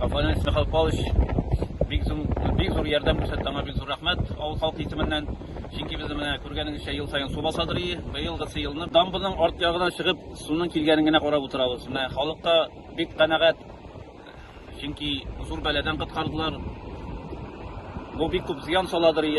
Абонент Михаил Павлович бик зур, бик зур ярдәм күрсәтте, аңа бик зур рәхмәт авыл халкы исеменнән. Чөнки без менә күргәнегезчә ел саен су баса торый. Быелгысы елны дамбының арт ягына чыгып, суның килгәнен генә карап утырабыз. Менә халык та бик канәгать. Чөнки зур бәладән коткардылар. Бу бик күп зыян сала торый.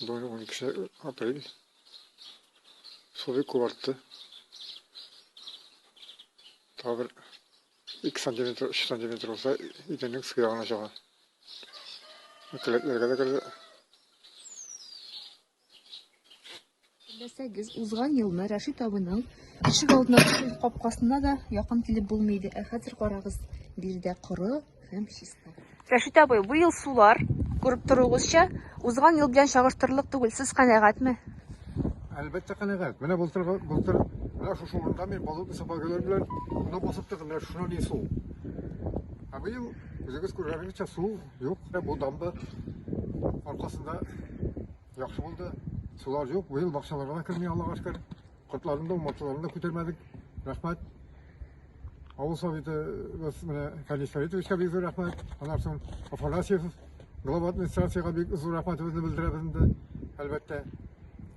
Бүгін 12 апрель. Су бик күп артты. Тағы бер 2 сантиметр, 3 сантиметр болса, идәннең су яғына чыга. Келәтләргә дә керде. Белсәгез, узган елны Рәшит абыйның ишек алдына капкасына да якын килеп булмый иде. Ә хәзер карагыз, биредә коры, Һәм чисто. Рәшит абый, бу ел сулар, күреп торуыгызча, узган ел белән чагыштырырлык түгел. Сез канәгатьме? Әлбәттә канәгать. Менә былтыр былтыр менә шушы урында мин болотный собагалар белән мына басып тордым. Менә шуна ни су. Ә быел үзегез күргәнегезчә су юк. Бу дамба аркасында яхшы булды. Сулар юк. Быел бакчаларга керми Аллага шөкер. Котларын да, умартыларын да күтәрмәдек. Рәхмәт. Авыл советыбыз менә Калий Советовичка бик зур рәхмәт. Аннан соң Афанасьев глава администрациягә бик зур рәхмәтебезне белдерәбез инде. Әлбәттә,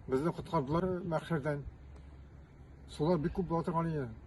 безне коткардылар мәхшәрдән. Сулар бик күп була торган иде.